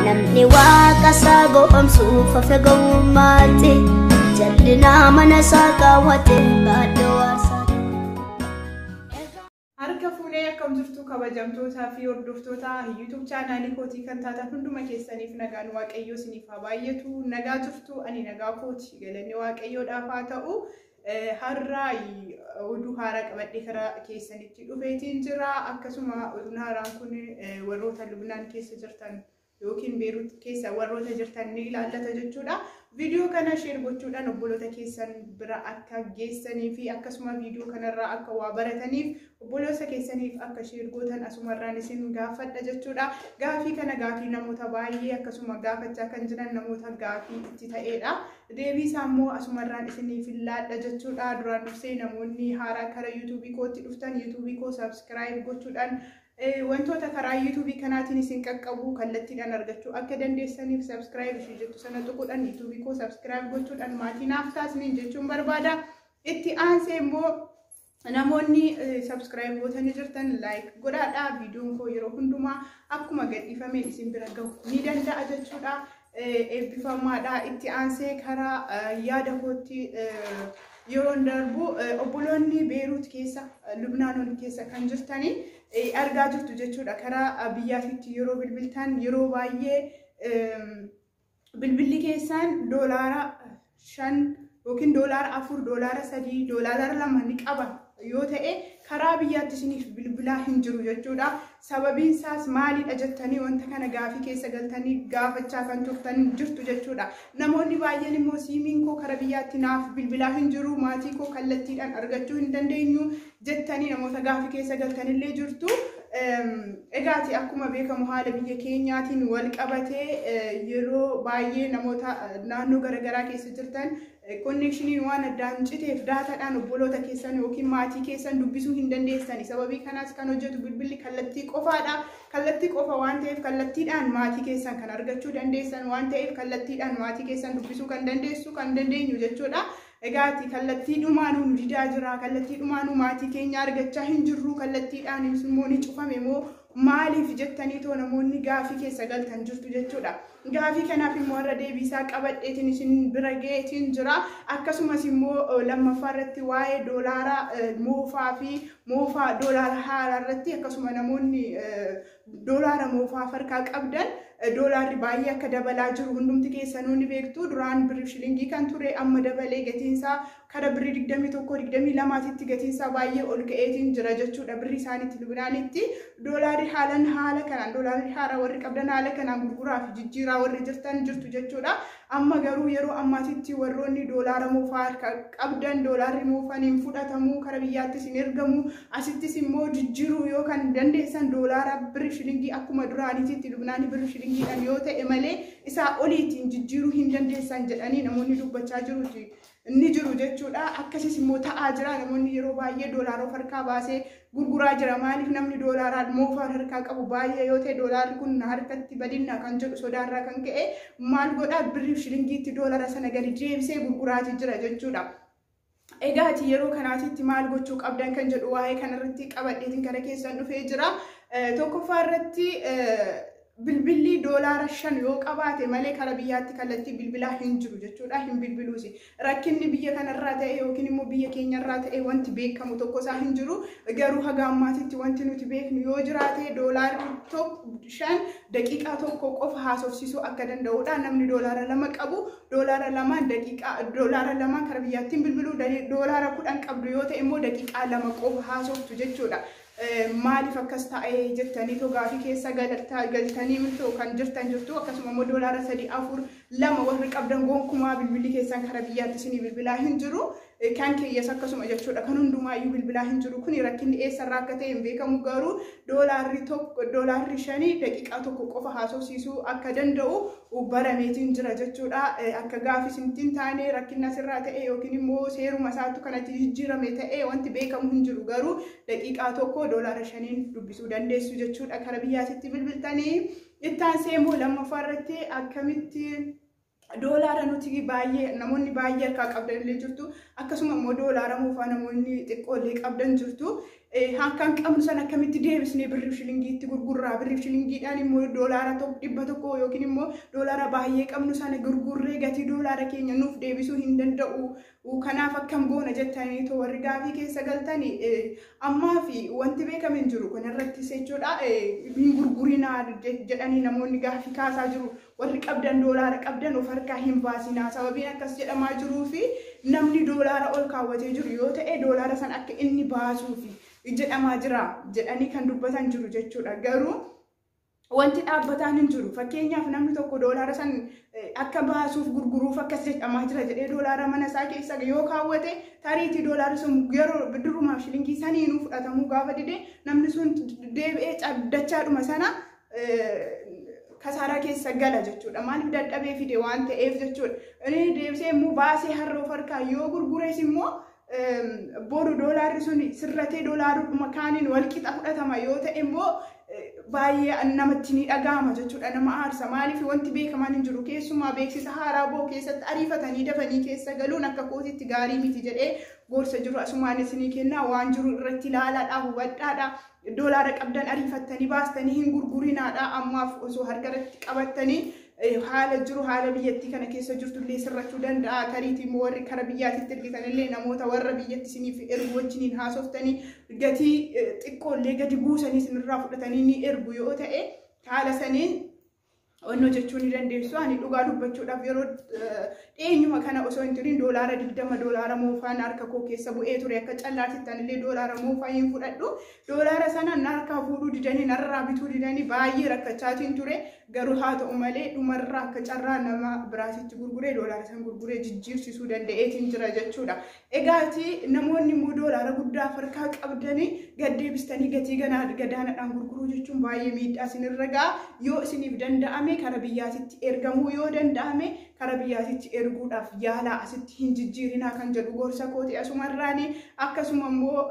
Namni waaqa isaa gowwomsuuf hafe gowwummaatti jallinaa mana isaa kaawwate baadhoo waasaatti. Harka fuunee akkam jirtu kabajamtootaa fi hordoftoota YouTube chaanaalii kootii kan taatan hunduma keessaniif nagaan waaqayyoo isiniif haa baay'atu. Nagaa jirtu ani nagaa kooti galanni waaqayyoodhaaf haa ta'u. Har'a oduu haaraa qabadhee karaa keessanitti dhufeetiin jira. Akkasuma oduun haaraan kun warroota Lubnaan keessa jirtan yookiin Beerut keessa warroota jirtan ni ilaallata jechuudha. Viidiyoo kana sheer gochuudhaan obboloota keessan bira akka geessanii fi akkasuma viidiyoo kanarraa akka waa barataniif Obboloosa keessaniif akka share gootan asumarraan isin gaafadha jechuudha. Gaafii kana gaafii namoota baay'ee akkasuma gaafachaa kan jiran namoota gaafii itti ta'eedha. Deebii isaa immoo asumarraan isiniif laadha jechuudha. Duraan dursee namoonni haaraa kara yuutuubii kootti dhuftan yuutuubii koo subscribe gochuudhaan wantoota karaa yuutuubii kanaatiin isin qaqqabu kallattiidhaan argachuu akka dandeessaniif subscribe ishee jettu sana tuquudhaan yuutuubii koo subscribe gochuudhaan maatii naaf taasisaan jechuun barbaada. Itti aansee immoo Namoonni subscribe gootanii jirtan like godhaadha. Viidiyoon koo yeroo hundumaa akkuma gadhiifame isin bira gahu ni danda'a jechuudha. Eebbifamaadha. Itti aansee karaa yaada kootti yeroon darbu obboloonni Beeruut keessa Lubnaanoon keessa kan jirtanii argaa jirtu jechuudha. Karaa biyyaatitti yeroo bilbiltan yeroo baay'ee Bilbilli keessaan doolaara shan yookiin doolaara afur, doolaara sadii, doolaara lama ni qaba yoo ta'e karaa biyyaatti isiniif bilbilaa hin jiru jechuudha. Sababiin isaas maalidha jettanii wanta kana gaafii keessa galtanii gaafachaa kan turtan jirtu jechuudha. Namoonni baay'een immoo siimiin koo karaa biyyaatti naaf bilbilaa hin jiru, maatii koo kallattiidhaan argachuu hin dandeenyu, jettanii namoota gaafi keessa galtanillee jirtu. Egaati akkuma beekamu haala biyya keenyaatiin wal qabatee yeroo baay'ee namoota naannoo garaagaraa keessa jirtan konneekshiniin waan addaan citeef daataadhaan obboloota keessan yookiin maatii keessan dubbisuu hin dandeessani. Sababii kanaas kan hojjetu bilbilli kallattii qofaadha. Kallattii qofa waan ta'eef kallattiidhaan maatii keessan kan argachuu dandeessan waan ta'eef kallattiidhaan maatii keessan dubbisuu kan dandeessu kan dandeenyu jechuudha. Egaa ati kallattii dhumaanuu nu didaa jira, kallattii dhumaanuu maatii keenya argachaa hin jirru, kallattiidhaanis immoo ni cufame moo maaliif jettanii too namoonni gaafii keessa galtan jirtu jechuudha. Gaafii kanaaf immoo irra deebiisaa qabadheetiin isin bira ga'eetiin jira. Akkasumas immoo lammaffaa irratti waa'ee doolaara moofaa fi moofaa doolaara haaraa irratti akkasuma namoonni Doolaara moofaa of harkaa qabdan doolaarri baay'ee akka dabalaa jiru hundumti keessanuu ni beektu. Duraan birrii shilingii kan ture amma dabalee gatiinsaa kara birrii digdamii tokko digdamii lamaatitti gatiinsaa baay'ee ol ka'eetiin jira jechuudha birrii isaaniitti Lubnaanitti. Doolaarri haalan haala kanaan doolaarri haaraa warri qabdan haala kanaan gurguraa fi jijjiiraa warri jirtan jirtu jechuudha. Amma garuu yeroo ammaatitti warroonni doolaara moofaa harka qabdan doolaarri moofan hin fudhatamu kara biyyaattis hin ergamu asittis immoo jijjiiruu yoo kan dandeessan doolaara birri shilingii akkuma duraaniititti lubnaanii birri shilingiidhaan yoo ta'e malee isaa oliitiin jijjiiruu hin dandeessan jedhanii namoonni dubbachaa jiruuti. ni jiru jechuudha. Akkasiis immoo ta'aa jira. Namoonni yeroo baay'ee doolaara of harkaa baasee gurguraa jira. Maaliif namni doolaaraan moofaan harkaa qabu baay'ee yoo ta'e doolaarri kun na harkatti badinna kan jedhu sodaarraa kan ka'e maal godhaa birriif shilingiitti doolaara sana gadi deebisee gurguraati jira jechuudha. Egaa ati yeroo kanaatitti maal gochuu qabdan kan jedhu waa'ee kanarratti qabadheetiin gara keessan dhufee jira. Tokkoffaa irratti bilbilli doolaara shan yoo qabaate malee kara biyyaatti kallattii bilbilaa hin jiru jechuudha hin bilbiluus rakkinni biyya kanarraa ta'e yookiin immoo biyya keenyarraa ta'e wanti beekamu tokko isaa hin jiru garuu haga ammaatitti wanti nuti beeknu yoo jiraate doolaarri tokko shan daqiiqaa tokko qofa haasofsiisuu akka danda'udha namni doolaara lama qabu doolaara lamaan daqiiqaa doolaara lamaan kara biyyaattiin bilbiluu doolaara kudhan qabdu yoo ta'e immoo daqiiqaa lama qofa haasoftu jechuudha Maaliif akkas ta'e jettanii too gaafii keessa galtanii too kan jirtan jirtu akkasuma immoo doolaara sadii afur lama warri qabdan gonkumaa bilbilli keessan kara biyyaatti isinii bilbilaa hin jiru kan keeyyas akkasuma jechuudha kan hundumaayyuu bilbilaa hin jiru kun rakkinni eessarraa akka ta'e hin beekamu garuu doolaarri tokko doolaarri shanii daqiiqaa tokko qofa haasofsiisuu akka danda'u barameetiin jira jechuudha. Akka gaafi isintti hin taane rakkinna asirraa ta'e yookiin immoo seeruma isaatu kanatti jijjiirame ta'e wanti beekamu hin jiru garuu daqiiqaa tokko doolaara shaniin dubbisuu dandeessu jechuudha kara biyyaatitti bilbiltanii. Itti aansee immoo lammaffaa irratti akkamitti doolaara nuti baay'ee namoonni baay'ee harkaa qabdan illee jirtu akkasuma immoo doolaara moofaa namoonni xiqqoo illee qabdan jirtu Harka hin qabnu sana akkamitti deebisnee birriif shilingii itti gurgurraa birriif shilingiidhaan immoo doolaara dhibba tokko yookiin immoo doolaara baay'ee qabnu sana gurgurree gatii doolaara keenya nuuf deebisuu hin danda'u. Kanaaf akkam goona jettanii too warri gaafii keessa galtan ammaa fi wanti beekame hin jiru kanarrattis jechuudha hin gurgurinaa jedhanii namoonni gaafii kaasaa jiru. Warri qabdan doolaara qabdan of harkaa hin baasinaa. Sababiin akkas jedhamaa jiruufi namni doolaara ol kaawwatee jiru yoo ta'e doolaara san akka inni baasuufi jedhamaa jira jedhanii kan dubbatan jiru jechuudha. Garuu wanti dhaabbataan hin jiru. Fakkeenyaaf namni tokko doolaara san akka baasuuf gurguruuf akkas jedhamaa jira jedhee doolaara mana isaa keessa yoo kaawwate tariitii doolaara sun yeroo durumaaf shilingii saniinuu fudhatamuu gaafa dide namni sun deebi'ee dachaa dhuma sana kasaaraa keessa gala jechuudha. Maaliif dadhabee fide waan ta'eef jechuudha. Inni deebisee immoo baasee har'a of harkaa yoo gurgures immoo booda doolaarri sun sirratee doolaaruma kaaniin wal qixa fudhatama yoo ta'e immoo baay'ee namatti ni dhaga'ama jechuudha nama aarsa maaliif wanti beekamaan hin jiru keessumaa beeksisa haaraa boo keessatti ariifatanii dafanii keessa galuun akka kootitti gaarii miti jedhee gorsa jiru asumaanis ni kenna waan jiru irratti ilaalaadha hubadhaadha Doolaara qabdan ariifattanii baastanii hin gurgurinaadha. Ammaaf osoo harka irratti qabattanii eh, haala jiru haala biyyattii kana keessa jirtu illee sirrachuu danda'a. Tariitii immoo warri kara biyyaatitti ergitan illee namoota warra biyyatti isiniif ergu wajjiniin haasoftanii gatii eh, xiqqoo illee gadi buusanii isinirraa fudhatanii ni ergu yoo ta'e haala saniin Wanni hojjechuu ni dandeessu. Ani dhugaa dubbachuudhaaf yeroo dhiyeenyuma kana osoo hin turin doolaara digdama doolaara moofaan harka koo keessa bu'ee ture akka callaatitti anillee doolaara moofaa hin fudhadhu. Doolaara sana narkaa fuudhuu didanii narraa bituu didanii baay'ee rakkachaatiin ture. Garuu haa ta'u malee dhumarraa akka carraa nama biraatitti gurguree doolaara san gurguree jijjiirsisuu danda'eetiin jira jechuudha. Egaa ati namoonni immoo doolaara guddaa of harkaa qabdanii gad deebistanii gatii ganaa gadaanadhaan gurguruu jechuun baay'ee miidhaa isinirra ga'a. Yoo isiniif danda'ame kara biyyaatitti ergamuu yoo danda'ame kara biyyaatitti erguudhaaf yaalaa asitti hin jijjiirinaa kan jedhu gorsa kooti asumarraani akkasuma immoo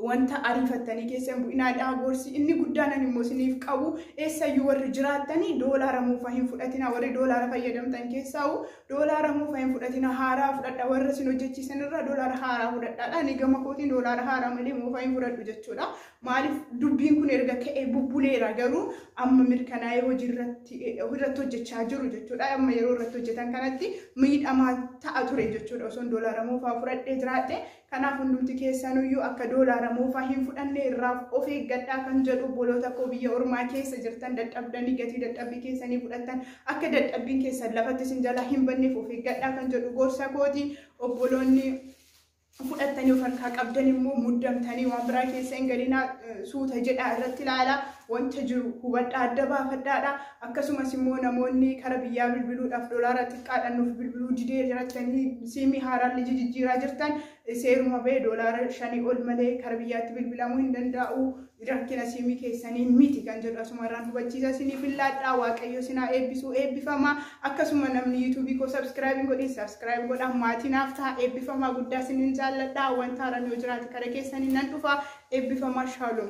wanta ariifattanii keessa hin bu'inaa dhaa gorsi inni guddaan ani immoo isiniif qabu eessayyuu warri jiraattanii doolaara moofaa hin fudhatinaa warri doolaara fayyadamtan keessaa'u doolaara moofaa hin fudhatinaa haaraa fudhadha warra isin hojjechiisan irraa doolaara haaraa fudhadhaadha ani gama kootiin doolaara haaraa malee moofaa hin fudhadhu jechuudha maaliif dubbiin kun erga ka'ee bubbuleera garuu amma mirkanaa'ee hojii irratti irratti hojjechaa jiru jechuudha amma yeroo irratti hojjetan kanatti miidhamaa ta'a ture jechuudha osoon doolaara moofaa fudhadhee jiraadhe Kanaaf hundumti keessanuyyuu akka doolaara moofaa hin fudhanne irraaf of eeggadhaa kan jedhu obboloota koo biyya ormaa keessa jirtan dadhabdanii gatii dadhabbii keessanii fudhattan akka dadhabbiin keessan lafatti isin jalaa hin banneef of eeggadhaa kan jedhu gorsa kooti obboloonni fudhattanii of harkaa qabdan immoo muddamtanii waan biraa keessa hin galinaa suuta jedhaa irratti ilaalaa wanta jiru hubadhaa adda baafadhaadha. Akkasumas immoo namoonni kara biyyaa bilbiluudhaaf dolaara xiqqaadhaan nuuf bilbiluu didee jirattanii siimii haaraan liji jijjiiraa jirtan seeruma ba'e dolaara shanii ol malee kara biyyaatti bilbilamuu hin danda'u. Rakkina siimii keessanii miti kan jedhu asuma irraan hubachiisa isiniif illaadhaa waaqayyo sinaa eebbisuu eebbifamaa akkasuma namni yuutuubii koo sabskiraayibiin godhin sabskiraayib godhaa maatii naaf ta'a eebbifamaa guddaa isiniin jaalladhaa wanta haaraan yoo jiraate kara keessanii nan dhufa eebbifamaa shaaloom.